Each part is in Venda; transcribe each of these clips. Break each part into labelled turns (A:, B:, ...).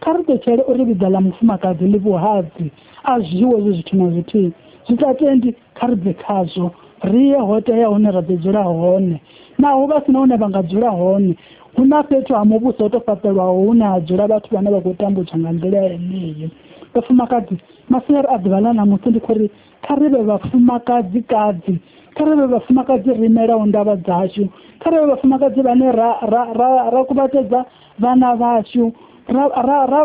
A: kha ri ṱetshele uri vhiga ḽa mufumakadzi ḽi vhuhadzi a zwiwo zwi zwithu na zwithihi zwi sa tendi kha ri bve khazwo ri ye ho tea hune ra ḓo dzula hone naho vha si na hune vha nga dzula hone hu na fhethu ha muvhuso ho to fhaṱelwaho hune ha dzula vhathu vhane vha khou tambudzwa nga nḓila yeneyo vhafumakadzi masiari a ḓuvha ḽa ṋamusi ndi khou ri kha ri vhe vhafumakadzi kadzi kha ri vhe vhafumakadzi ri imelaho ndavha dzashu kha ri vhe vhafumakadzi vhane ra ra ra ra kuvhatedza vhana vhashu ra ra ra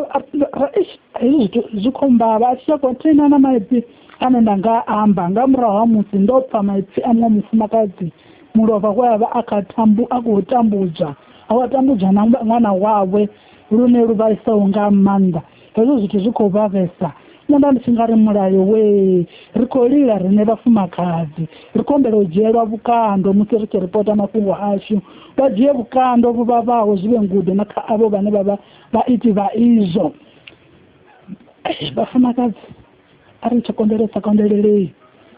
A: ra ish hezwi zwithu zwi khou mbavha a tshi tsha khou thena na maipfi ane nda nga amba nga murahu ha musi ndo pfa maipfi a muṅwe mufumakadzi mulovha we a vha a kha tambu a khou tambudzwa a wa tambudzwa na ṅwana wawe lune lu vhaisaho nga maanḓa hezwo zwithu zwi khou vha vhesa nṋe nda ndi tshi nga ri mulayo wee ri khou lila riṋe vhafumakadzi ri khou humbela u dzhielwa vhukando musi ri tshi ripota mafhungo ashu vha dzhie vhukando vhu vhavhaho zwi vhe ngudo na kha avho vhane vha vha vhaiti vha izwo vhafumakadzi a ri tsha konḓelesa konḓelelei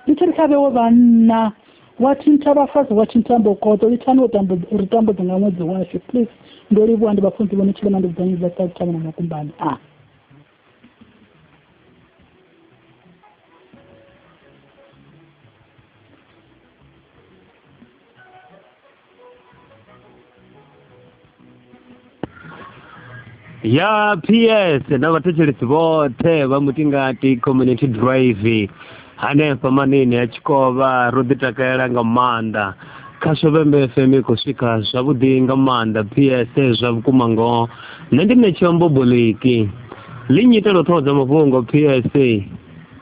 A: lithari kha vhewe vhanna wa thinta vhafazi wa thinta mbokoto lithani uri tambudze nga ṅwedzi washu please ndo livhuwa ndi vhafunzi vhone tshilema ndi vhudzanyi dza sa thavha na makumbani a ah.
B: ya ps na vhathetshelesi vhoṱhe vha mutingati community drive hanefha manini ya tshikovha ro ḓi takalela nga maanḓa kha shobembe fm i khou swika zwavhuḓi nga maanḓa ps zwa vhukuma ngoho nṋe ndi ṋetsheo mboboliki ḽi nnyitela u ṱhohodza mafhungo ps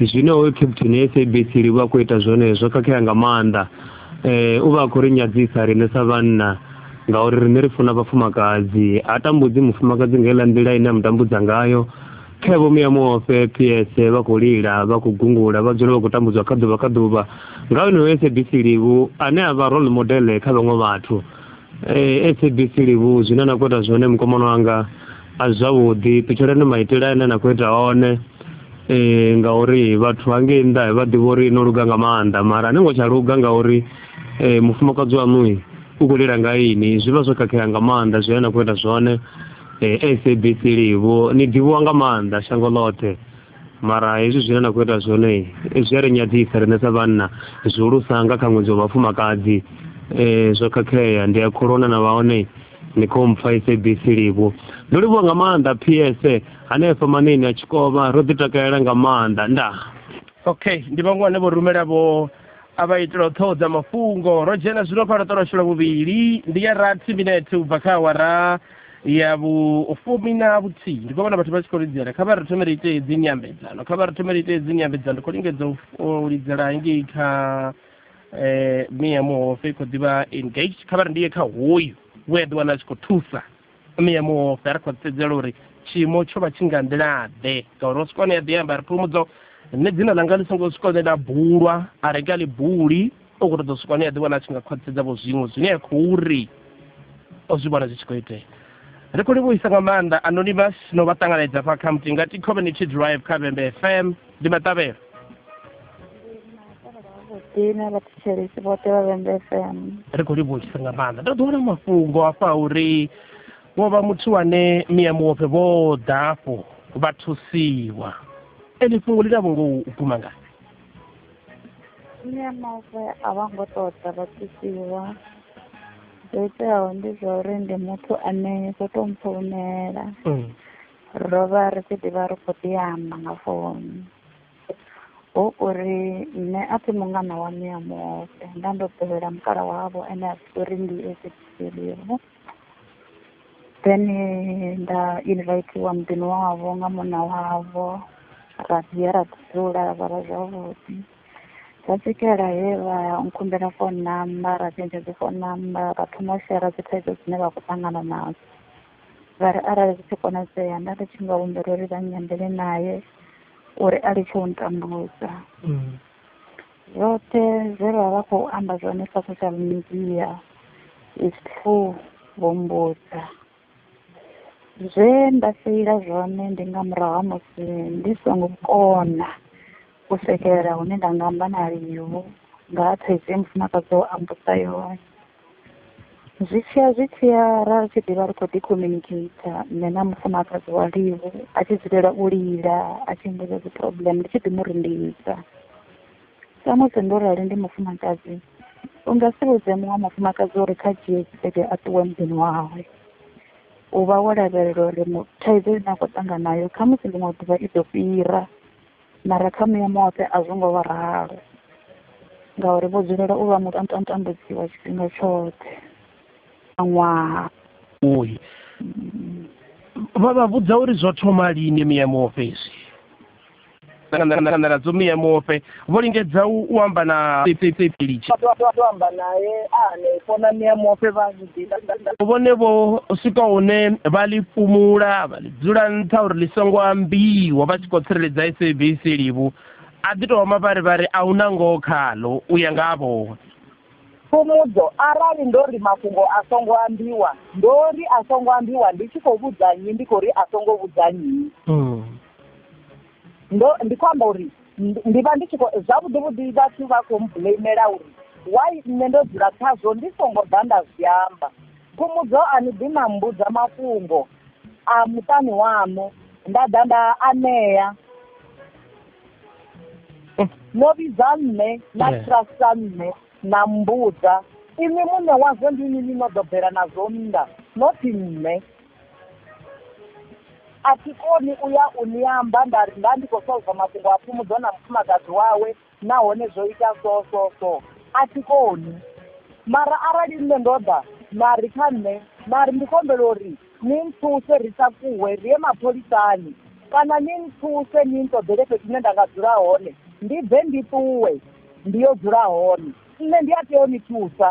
B: zwino hoyu captain ya sabc ri vha khou ita zwone zwo khakhea nga maanḓa um u vha a khou ri nyadzisa riṋe sa vhanna ngauri riṋe ri funa vhafumakadzi ha tambudzi mufumakadzi nga iḽa nḓila ine a mu tambudza ngayo khe vho muya muofhe ps vha khou lila vha khou gungula vha dzula vha khou tambudzwa kha ḓuvha kha ḓuvha nga honoyo sabc livhu ane a vha role modele kha vhaṅwe vhathu um sabc livhu zwine na khou ita zwone mukomano wanga a zwavhuḓi ṱutshuleni maitele ane na khou ita one um ngauri vhathu hangei nnḓa vha ḓivha uri no luga nga maanḓa mara ni ngo tsha luga ngauri um mufumakadzi waṋui u khou lila nga ini zwi vha zwo khakhea nga maanḓa zwine na khou ita zwone um sabc livho ni ḓivhiwa nga maanḓa shango ḽoṱhe mara hezwi zwine na khou ita zwone zwi a ri nyadzisa riṋe sa vhanna zwihulusa nga kha ṅwedzi wa vhafumakadzi um zwo khakhea ndi a khulona na vha hone ni khou mpfa sabc livho ndo livhuwa nga maanḓa p s hanefha manini a tshikovha ro ḓi takalela nga maanḓa ndaa okay ndi
C: vhaṅwe vhane vho rumela vho a vha itela u ṱhoho dza mafhungo ro dzhena zwino fha ro ṱolashula vhuvhili ndi ya rathi minete u bva kha awara ya vhufumi na vhuthihi ndi khou vhona vhathu vha tshi khou lidzela kha vha ri thomele ite dzi nyambedzano kha vha ri thomele ite dzi nyambedzano ndi khou lingedza u lidzela ngei kha eh mia muhofe i khou ḓivha engaged kha vha ri ndi ye kha hoyu we a ḓi wana a tshi khou thusa mia muhofe a ri khou sedzela uri tshiimo tsho vha tshi nga nḓilaḓe ngauri o swika hone ya ḓi amba ri phumudzo nṋe dzina ḽanga ḽi songo swika hune ḽa bulwa a ri nga ḽi buli o ku ri ḓo swika hune a ḓivhona a tshi nga khwaṱhisedza vho zwiṅwe zwine a khou ri o zwi vhona zwi tshi khou itea ri khou livhuisa nga maanḓa anonymous no vha ṱanganedza fha kha mutingati community drive kha vhembe fm ndi maṱavhelo dina vha thetshelesi vhoṱhe vha vhembe fm
D: ri khou livhuisa
C: nga maanḓa ndo ḓiwana mafhungo afha uri wo vha muthu wane miya muwope vho ḓa afho vha thusiwa ene fhungo ḽi na vhungo u guma ngani Nṋe
D: mavu a vha ngo ṱoḓa vha thusiwa zwo iteaho ndi zwa uri ndi muthu ane zwo to mpfounela mm. ro vha ri tshi ḓivha ri khou ḓi amba nga founu hu uri nṋe a thi mungana wa miya muhofe nda ndo ḓowela mukala wavho ane a ḓi uri ndi ezekiselivo then nda invitiwa muḓini wavho nga munna wavho ra dzhia ra dzula ra vhala zwavhuḓi ra swikela he vha nkhumbela phone number ra tshentsha dzi phone number ra thoma u shera dzi thaidzo dzine vha khou ṱangana nadzo vha ri arali zwi tshi konadzea nda ndi tshi nga humbela uri vha nyambele naye uri a litshe u ntambudza mm. Zwoṱhe zwe vha vha khou amba zwone kha social media is true vho mbudza zwe nda feila zwone ndi nga murahu ha musi ndi songo kona u swikelela hune nda nga amba na Livu nga ha thaidzo ye mufumakadzi wawe a mbudza yone. zwi tshiya zwi tshiya ra tshi ḓivha ri khou ḓi communicate nṋe na mufumakadzi wa livu a tshi dzulela u lila a tshi mmbudza dzi problem ndi tshi ḓi mu rindisa samusi ndo rali ndi mufumakadzi u nga si vhudze muṅwe mufumakadzi uri kha dzhie tshelede a ṱuwe muḓini wawe u vha wo lavhelela uri thaidzo ine a khou ṱangana nayo khamusi ḽiṅwe ḓuvha i ḓo fhira Mara kha muya muṱe a zwo ngo vha ralo, ngauri vho dzulela u vha mutambudziwa tshifhinga tshoṱhe a ṅwaha. Uhi.
C: Vha vha vhudza uri zwo thoma lini muya muofhe izwi? nadzo muya muofhe vho lingedza u amba na pepeli. Vha ḓo amba
E: nae a hanefho na muya muofhe vha. vhone
C: vho swika hune vha ḽi fumula vha ḽi dzula nṱha uri ḽi songo ambiwa vha tshi khou tsireledza sabc livhu a ḓi tou mavharivhari a hu na ngoho khaḽo u ya nga ha vhohe fhumudzo
E: arali ndo ri mafhungo a songo ambiwa ndo ri a songo ambiwa ndi tshi khou vhudza nnyi ndi khou ri a songo vhudza nnyi hmm. ndo ndi khou amba uri ndi vha ndi tshi khou zwavhuḓi vhuḓi vhathu vha khou mblamela uri why nṋe ndo dzula khazwo ndi songo ḓa nda zwi amba khumudzo a ni ḓi na mbudza mafhungo a muṱani waṋu nda ḓa nda anea no vhidza nṋe na trasta nṋe na mbudza inwi muṋe wazwo ndi inwi ni no ḓo bvela nazwo nnḓa nothi nṋe a thi koni u ya u ni amba nda ri nda ndi khou solva mafhungo a fhumudzo na mufumakadzi wawe nahone zwo ita so so so a thi koni mara arali nṋe ndo ḓa na ri kha nṋe na ri ndi khou humbela uri ni nthuse ri takuwe ri ye mapholisani kana ni nthuse ni nṱoḓele fhethu hune nda nga dzula hone ndi bve ndi ṱuwe ndi yo dzula hone nṋe ndi a tea u ni thusa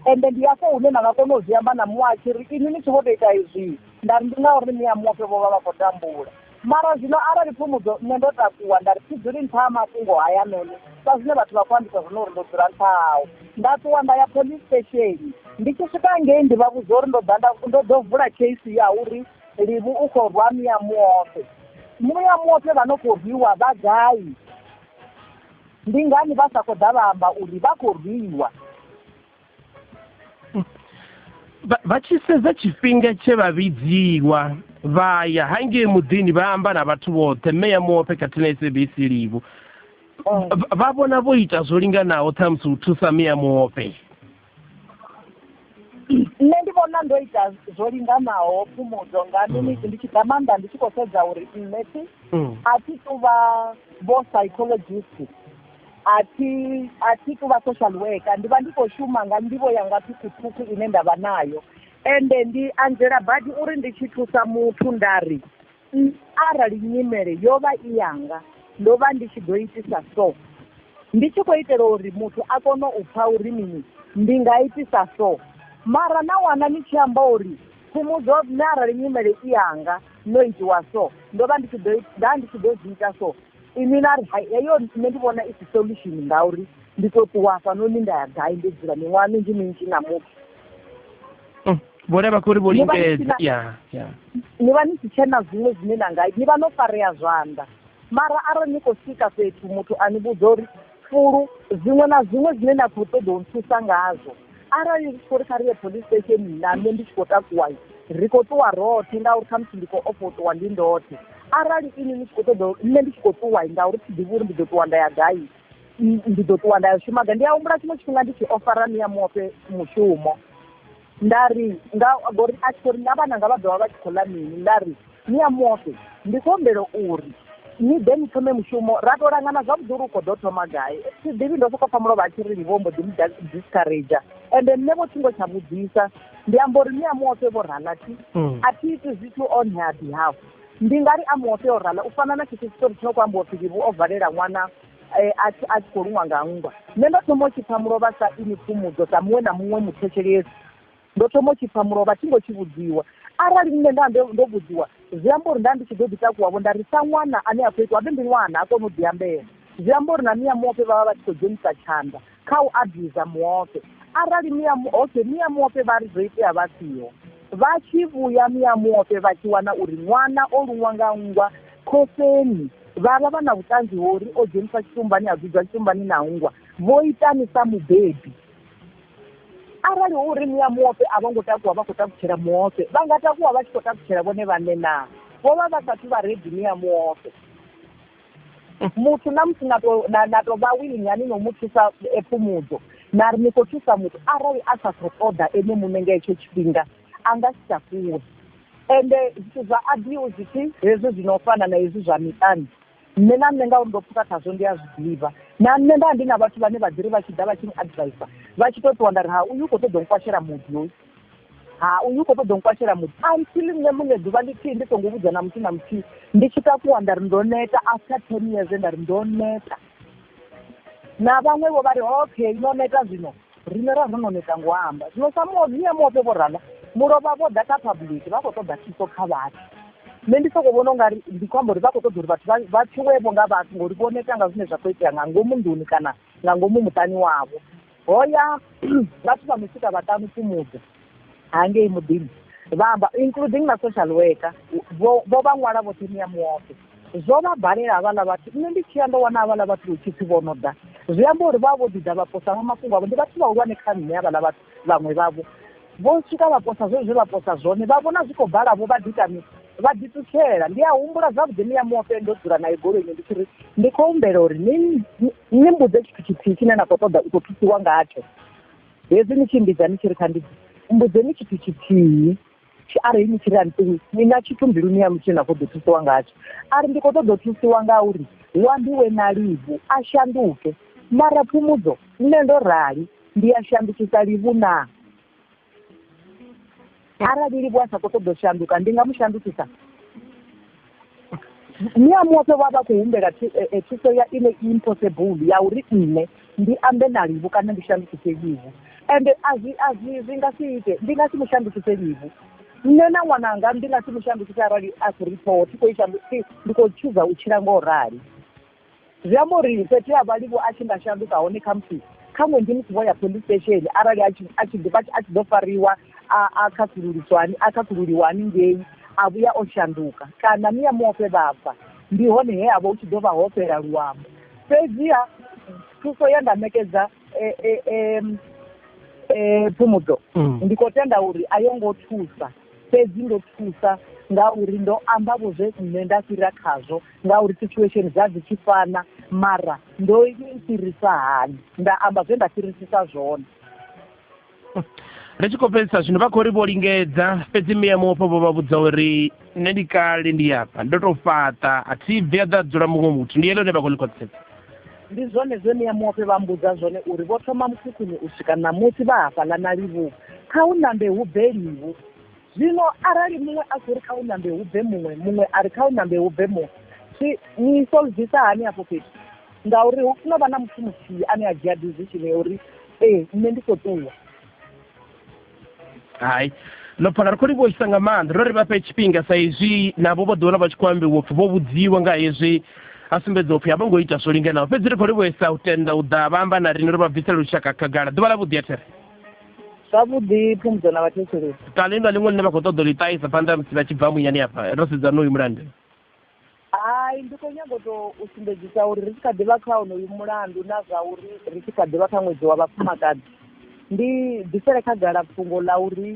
E: Ende ndi hafho hune na nga kona u zwi amba na muṅwe a tshi ri, Inwi ni tshi vho tou ita izwii, nda ri, Ndi ngauri ni a muofhe vho vha vha khou tambula. Mara zwino arali Phumudzo, nṋe ndo takuwa, nda ri, Thi dzuli nṱha ha mafhungo haya noni, sa zwine vhathu vha khou ambisa zwone uri ndo dzula nṱha hao. Nda ṱuwa nda ya police station. Ndi tshi swika ngei ndi vha vhudza uri ndo ḓa nda, ndo ḓo vula case ya uri Livhu u khou rwa mia muofhe. Mia muofhe vha no khou rwiwa vha gai? Ndi ngani vha sa khou ḓa vha amba uri vha khou rwiwa?
C: Vha tshi sedza tshifhinga tshe vha vhidziwa vha ya hangei muḓini vha amba na vhathu vhoṱhe mme ya muofhe khathihi na sabc livhu vha vhona vho ita zwo linganaho ṱhamusi u thusa mme ya muofhe
E: nṋe ndi vhona ndo ita zwo linganaho phumudzo nga mm. miniti ndi tshi ḓa maanḓa ndi tshi khou sedza uri nṋe thi mm. a thi tu vha vho psychologist a thi a thi tu vha social worker ndi vha ndi khou shuma nga nḓivho yanga ṱhukhuṱhukhu ine nda vha nayo ende ndi anzela badi uri ndi tshi thusa muthu nda ri Nṋe arali nyimele yo vha i yanga, ndo vha ndi tshi ḓo itisa so. Ndi tshi khou itela uri muthu a kone u pfa uri mini, ndi nga itisa so. Mara na wana ni tshi amba uri, Phumudzo, nṋe arali nyimele i yanga, no itiwa so, ndo vha ndi tshi ḓo, nda ndi tshi ḓo zwi ita so. Inwi na ri, Hai, heyo nṋe ndi vhona i si solution ngauri ndi tou ṱuwa hafhanoni nda ya gai ndo dzula miṅwaha minzhi-minzhi na muthu.
C: mm, vho levha kho ri vho lingedza ya ya
E: ni vha ni si tshena zwiṅwe zwine na nga ni vha no farea zwanḓa mara arali ni khou swika fhethu muthu a ni vhudza uri fulu zwiṅwe na zwiṅwe zwine na khou ṱoḓa u nthusa ngazwo arali ri khou ri kha ri ye police station na nṋe ndi tshi khou takuwa ri khou ṱuwa roṱhe ngauri khamusi ndi khou ofha u ṱuwa ndi ndoṱhe arali ini ni tshi khou ṱoḓa nṋe ndi tshi khou ṱuwa ngauri thi ḓivhi uri ndi ḓo ṱuwa nda ya gai ndi ḓo ṱuwa nda ya shuma ga ndi a humbula tshiṅwe tshifhinga ndi tshi ofara ni ya muofe mushumo nda ri nga ngori a tshi khou ri na vhananga vha ḓovha vha tshi khou ḽa mini nda ri ni ya muofe ndi khou humbela uri ni ḓe ni thome mushumo ra to langana zwavhuḓi uri u khou ḓo thoma gai thi ḓivhi ndo sokou pfa mulovha a tshi ri vho mbo ḓi mu discourage ende nṋe vho thingo tsha vhudzisa ndi amba uri ni ya muofe vho ralathi mm. a thi iti zwithu on her behalf Ndi nga ri a muho tea u rala u fana na tshetsho tshitori tshi no khou ambiwa u pfi Vivhu o valela ṅwana e a tshi a tshi khou luṅwa nga nngwa. Nṋe ndo thoma u tshi pfa mulovha sa inwi pfumudzo dza muṅwe na muṅwe muthetshelesi. Ndo thoma u tshi pfa mulovha thi ngo tshi vhudziwa. Arali nṋe nda vha ndo vhudziwa, zwi amba uri nda ndi tshi ḓo ḓi takuwa-vho nda ri sa ṅwana ane a khou itwa a vhe ndi ṅwana, a kone u ḓiambela. Zwi amba uri na mia muofhe vha vha vha tshi khou dzhenisa tshanḓa. kha u abuse muofhe arali mia okay mia muofhe vha ri zwo itea vha siho vha tshi vhuya mia muofhe vha tshi wana uri ṅwana o luṅwa nga nngwa khofeni vha vha vha na vhuṱanzi ho uri o dzheniswa tshitumbani a dzudzwa tshitumbani na nngwa vho itani sa mubebi arali hu uri mia muofhe a vho ngo takuwa vha khou takutshela muofhe vha nga takuwa vha tshi khou takutshela vhone vhaṋe naa vho vha vha sathu vha redi mia muofhe muthu na musi na to na na to vha willing hani no mu thusa e fhumudzo na ri ni khou thusa muthu arali a sa khou ṱoḓa ene muṋe nga hetsho tshifhinga a nga si tsha fhiwe ende zwithu zwa abiwu zwitshi hezwi zwi no fana na hezwi zwa miṱani nṋe na nṋe ngauri ndo pfuka khazwo ndi a zwi ḓivha na nṋe nda ndi na vhathu vhane vha ḓiri vha tshi ḓa vha tshi ni advisor vha tshi to ṱuwa nda ri ha uyu u khou ṱoḓa u kwashela muḓi hoyu Ha, uyu u khou ṱoḓa u nkwashela muthu until nṋe muṋe ḓuvha ḽithihi ndi songo vhudza na muthu na muthihi ndi tshi takuwa nda ri ndo neta after ten years nda ri ndo neta na vhaṅwe vho vha ri okay no neta zwino riṋe ra ro no neta ngo amba zwino sa muodzia muope vho rala mulovha vho ḓa kha public vha khou ṱoḓa thuso kha vhathu nṋe ndi sokou vhona u nga ri ndi khou amba uri vha khou ṱoḓa uri vhathu vha tshuwevho nga vhathu ngori vho neta nga zwine zwa khou itea nga ngomu nḓuni kana nga ngomu muṱani wavho ho ya vhathu vha no swika vhaṱanu fhumudza hangei muḓini vha amba including na social worker vho vha ṅwala vhoṱhe ni ya muofe zwo vha balela havhaḽa vhathu nṋe ndi tshiya ndo wana havhaḽa vhathu hu tshipfi vho no ḓa zwi amba uri vha vho ḓi ḓa vha posa vha mafhungo avho ndi vhathu vhahulwane kha nṋe havhaḽa vhathu vhaṅwe vhavho vho swika vha posa zwe zwe vha posa zwone vha vhona zwi khou bala vho vha ḓi ita mini vha ḓiṱutshela ndi a humbula zwavhuḓi ni ya muofhe ndo dzula nae goloini ndi tshi ri ndi khou humbela uri ni ni mbudze tshithu tshithihi tshine na khou ṱoḓa u khou thusiwa ngatsho hezwi ni tshi mbidza ni tshi ri kha ndi mbudzeni tshithu tshithihi arali ni tshi ri antiwi ni na tshithu mbiluni yanu tshine na khou ḓo thusiwa ngatsho a ri ndi khou ṱoḓa u thusiwa nga uri wambi we na livhu a shanduke mara phumudzo nṋe ndo rali ndi a shandukisa livhu naa arali livho a sa khou ṱoḓa u shanduka ndi nga mu shandukisa ni a muope vha vha khou humbela eh, eh, thuso ya ine i impossible ya uri nṋe ndi ambe na livho kana ndi shandukise livho ende azwi azwi zwi nga si ite ndi nga si mu shandukise livho nṋe na ṅwananga ndi nga si mu shandukise arali a khou ri phoho thi khou i shanduki ndi khou tshuza u tshila ngo rali Zwi amba uri fhethu he a vha a livho a tshi nga shanduka hone khamusi khaṅwe ndi musi vho ya police station arali a tshi a tshi ḓi vha a tshi ḓo fariwa a a khasululiswa hani a khasululiwa haningei a vhuya o shanduka kana ni ya muofhe vha bva ndi hone he ha vha hu tshi ḓo vha ho fhela luambo fhedziha thuso ye nda ṋekedza eh, eh, em, eh, phumudzo Mm. ndi khou tenda uri a yo ngo thusa fhedzi ndo thusa ngauri ndo amba vho zwe nṋe nda fhira khazwo ngauri situation dza dzi tshi fana mara ndo fhirisa hani nda amba zwe nda fhirisisa zwone
C: ri tshi khou fhedzisa zwino vha khou ri vho lingedza fhedzi miya mufho vho vha vhudza uri nṋe ndi kale ndi afha ndo tou fhaṱa a thi bvi a ḓa dzula muṅwe muthu ndi yele hune vha khou ḽi khwaṱhisedza Ndi zwone
E: zwe Niamuofe vha mmbudza zwone uri vho thoma mukhukhuni u swika ṋamusi vha hafhaḽa na livhuwa. Kha hu nambe hu bve livhu. Zwino arali muṅwe a khou ri kha hu nambe hu bve muṅwe, muṅwe a ri kha hu nambe hu bve muṅwe, zwi ni solvisa hani afho fhethu? Ngauri hu funa u vha na muthu muthihi ane a dzhia decision ya uri ee, nṋe ndi khou ṱuwa.
C: hai no pfha ngari kholi vho isa nga maanḓa ro ri vha fhe tshifhinga sa izwi navho vho ḓiwana vha tshi khou ambiwa upfhi vho vhudziwa nga hezwi a sumbedza upfhi a vho ngo ita zwo linganaho fhedzi ri kholi vho isa u tenda u ḓa vha amba na riṋe ri vha bvisela lushaka khagala ḓuvha ḽa vhuḓi athere zwavhuḓi
E: phumudzo na vhathetshelesi kana inga ḽiṅwe ḽine vha khou
C: ṱoḓa u ḽi ṱahisa phanḓa musi vha tshi bva munyani afha ro sedzana uyu mulandu Hai,
E: ndi khou nyaga u tou u sumbedzisa uri ri tshi kha ḓi vha kha honoyu mulandu na zwa uri ri tshi kha ḓi vha kha ṅwedzi wa vhafumakadzi, ndi bvisele khagala fhungo ḽa uri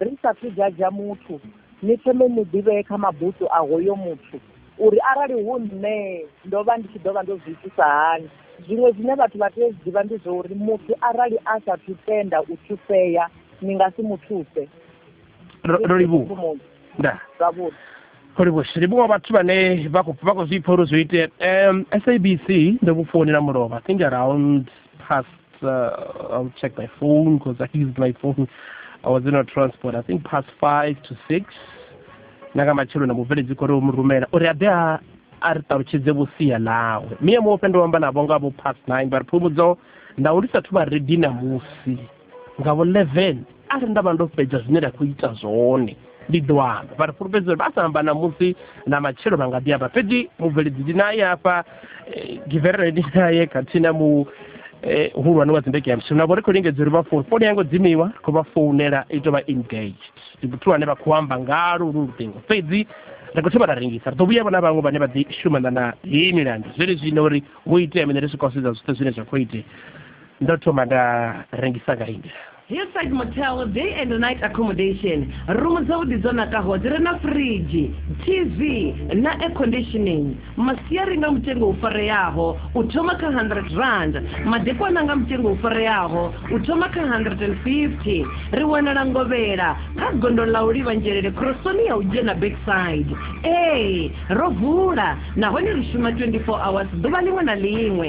E: ri sa thu dzhadzha muthu, ni thome ni ḓivhee kha mabutswu a hoyo muthu uri arali hu nṋe ndo vha ndi tshi ḓo vha ndo zwi itisa hani. Zwiṅwe zwine vhathu vha tea u zwi ḓivha ndi zwa uri muthu arali a sa thu tenda u thusea ni nga si mu thuse. Ro,
C: ro livhuwa. Ndaa. Zwavhuḓi.
E: holivhuwa livhuwa
C: vhathu vhane vha khou vha khou zwi pfha uri zwo itea um sabc ndo vhu founela mulovha i think around past uh, i'll check my phone because i used my phone i was in a transport i think past five to six na nga matshelo na mubveledzi khou ri u mu rumela uri a ḓe a a ri ṱalutshedze vhusia ḽawe miye muofhe ndo amba navho nga vho past nine vha ri phumudzo nda u lisathu vha redi na musi nga vho 11 arali nda vha ndo fhedza zwine nda khou ita zwone ndi ḓo amba vha ri fulufhedza uri vha sa amba na musi na matshelo vha nga ḓi amba fhedzi mubveledzi ndi naye hafha eh, giverere ndi naye khathihi na mu eh, hulwane wa dzindege ya mshimu navho ri khou lingedza uri vha founu founu yango dzimiwa ri khou vha founela i tou vha engaged ndi muthu wane vha khou amba ngalo lu luṱingo fhedzi ri khou thoma ra rengisa ri ḓo vhuya vhona vhaṅwe vhane vha ḓi shumana na heyi milandu zwene zwino uri vho itea mine ri swika u sedza zwithu zwine zwa khou itea ndo thoma nda rengisa nga india hillside motel
F: day and night accommodation rumu dzavhuḓi dzo nakaho dzi re na fridge tv na air conditioning masiari nga mutengo u fareaho u thoma kha 100 rand madekwana nga mutengo u fareaho u thoma kha 150 ri wanala ngovhela kha gondo ḽa u livha nzhelele khorosoni ya u dzhena backside ee ro vula nahone ri shuma 24 hours ḓuvha ḽiṅwe na ḽiṅwe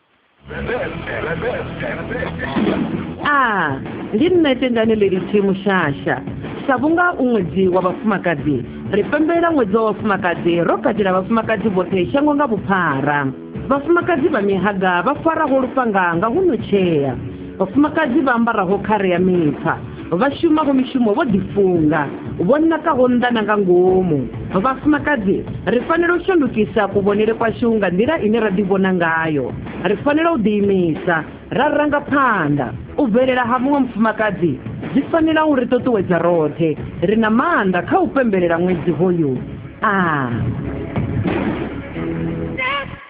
F: a ndi nṋe tendane lelitshi mushasha sa vhunga u ṅwedzi wa vhafumakadzi ri pembelela ṅwedzi wa vhafumakadzi ro katela vhafumakadzi vhoṱhe shango nga vhuphara vhafumakadzi vha mihaga vha faraho lufhanga nga hu no tshea Vhafumakadzi vha ambaraho khare ya mipfa, vha shumaho mishumo vho ḓifunga, vho nakaho nnḓa na nga ngomu. Vhafumakadzi, ri fanela u shandukisa kuvhonele kwashu nga nḓila ine ra ḓivhona ngayo. Ri fanela u ḓiimisa, ra ranga phanḓa. U bvelela ha muṅwe mufumakadzi zwi fanela u ri ṱuṱuwedza roṱhe. Ri na maanḓa kha u pembelela ṅwedzi hoyu. A.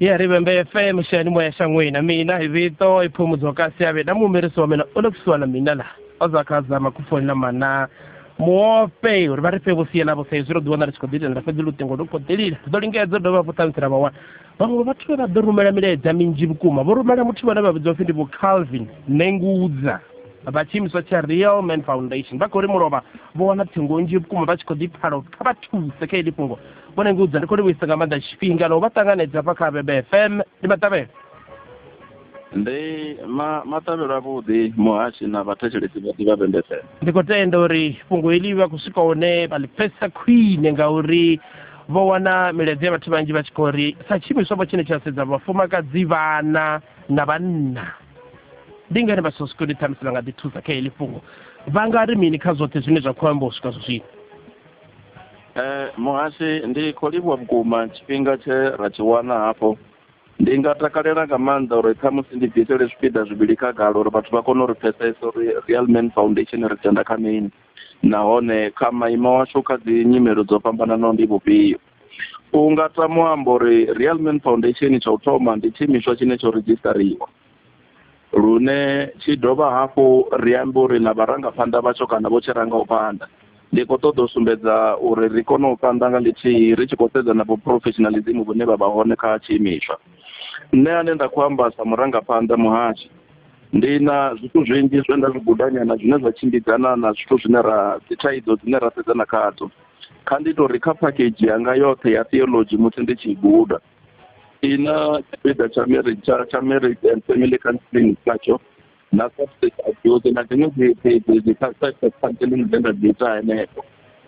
C: ya ri vhembe fm shani moya shangwini mina hi vito i phumudzo kasi ya vhena muhumelisi wa mina u le kusuwa na mina laha o za kha zama ku fonela mana muope uri vha ri fhe vhusia navho sa izwi ro ḓi wana ri tshi khou ḓiitela fhedzi luṱingo lu khou ḓilila ri ḓo lingedza dovha hafhu ṱhamusi ra vha wana vhaṅwe vhathu vhe vha ḓo rumela milaedza minzhi vhukuma vho rumela muthu vhane vha vhidzwa pfhi ndi vho calvin nengudza vha tshiimiswa tsha real man foundation vha khou ri mulovha vho wana ṱhingo nzhi vhukuma vha tshi khou ḓi phala uri kha vha thuse kha ili fhungo bona ngudza ndi khou livhuisa nga maanḓa tshifhinga na u vha ṱanganedza hafha kha bebe fm ndi maṱavhelo ndi
G: ma maṱavhelo avhuḓi muhashi na vhathetshelesi vha ḓivha bebe fm ndi khou tenda uri
C: fhungo heḽi vha khou swika hone vha ḽi pfesa khwine ngauri vho wana milaedza ya vhathu vhanzhi vha tshi khou ri sa tshiimiswa vho tshine tsha sedza vhafumakadzi vhana na vhanna ndi ngani vha sosiko ndi ṱhamusi vha nga ḓi thusa kha heḽi fhungo vha nga ri mini kha zwoṱhe zwine zwa khou amba u swika zwa zwino Eh,
G: muhasi ndi khou livhuwa vhukuma tshifhinga tshe ra tshi wana hafho ndi nga takalela nga maanḓa uri khamusi ndi bvisele zwipiḓa zwivhili khagala uri vhathu vha kone uri pfesesa uri real man foundation ri tenda kha mini nahone kha maimo washu kha dzi nyimelo dzo fhambananaho ndi vhufhio u nga tama u amba uri real man foundation tsha u thoma ndi tshiimiswa tshine tsho redzhistariwa lune tshi dovha hafhu ri ambe uri na vharangaphanḓa vhatsho kana vho tshi ranga u phanḓa ndi khou ṱoḓa u sumbedza uri ri kone u phanḓa nga ḽithihi ri tshi khou sedza na vhuprofessionalism vhune vha vha hone kha tshiimiswa nṋe ane nda khou amba sa murangaphanḓa muhashi ndi na zwithu zwinzhi zwe nda zwi gudanyana zwine zwa tshimbidzana na zwithu zwine ra dzi thaidzo dzine ra sedzana khadzo kha ndi tori kha phakhedzhi yanga yoṱhe ya theolodzhi musi ndi tshi guda i na tshipiḓa tsha marriage tsha tsha marriage and family counseling natsho na substance abuse na dziṅwe dzi dzi dzi dzi substance counseling dzine nda dzi ita henefho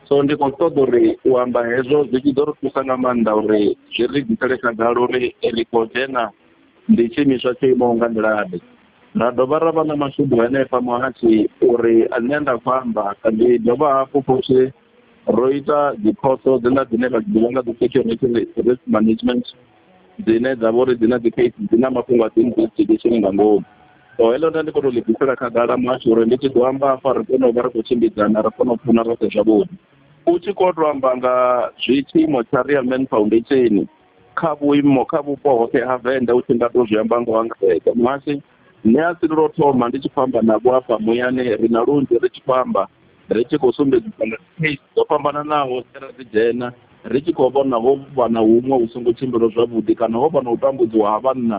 G: so ndi khou ṱoḓa uri u amba hezwo zwi tshi ḓo ri thusa nga maanḓa uri zwi ri ḓisele khagala uri ri khou dzhena ndi tshiimiswa tsho imaho nga nḓilaḓe ra dovha ra vha na mashudu henefha muhatshi uri nṋe nda khou amba ndi dovha hafhu futhi ro ita dziphoso dziḽa dzine ra ḓivha nga dzi security risk management dzine dza vha uri dzi na dzi case dzi na mafhungo a dzi investigation nga ngomu so heḽo nda ndi kona u ḽi bvisela khagala muhasho uri ndi tshi ḓo amba afha ri kone u vha ri khou tshimbidzana ri kone u pfuna roṱhe zwavhuḓi u tshi khou to amba nga zwi tshiimo tsha real man foundation kha vhuimo kha vhupo hoṱhe ha venḓa u tshi nga to zwi amba ngo angaredza muhasi nṋe a si lwo thoma ndi tshi khou amba navho afha muyani ri na lunzhi ri tshi khou amba ri tshi khou sumbedzisa nga case dzo fhambananaho dze ra dzi dzhena ri tshi khou vhona ho vha na huṅwe hu songo tshimbilo zwavhuḓi kana ho vha na u tambudziwa ha vhanna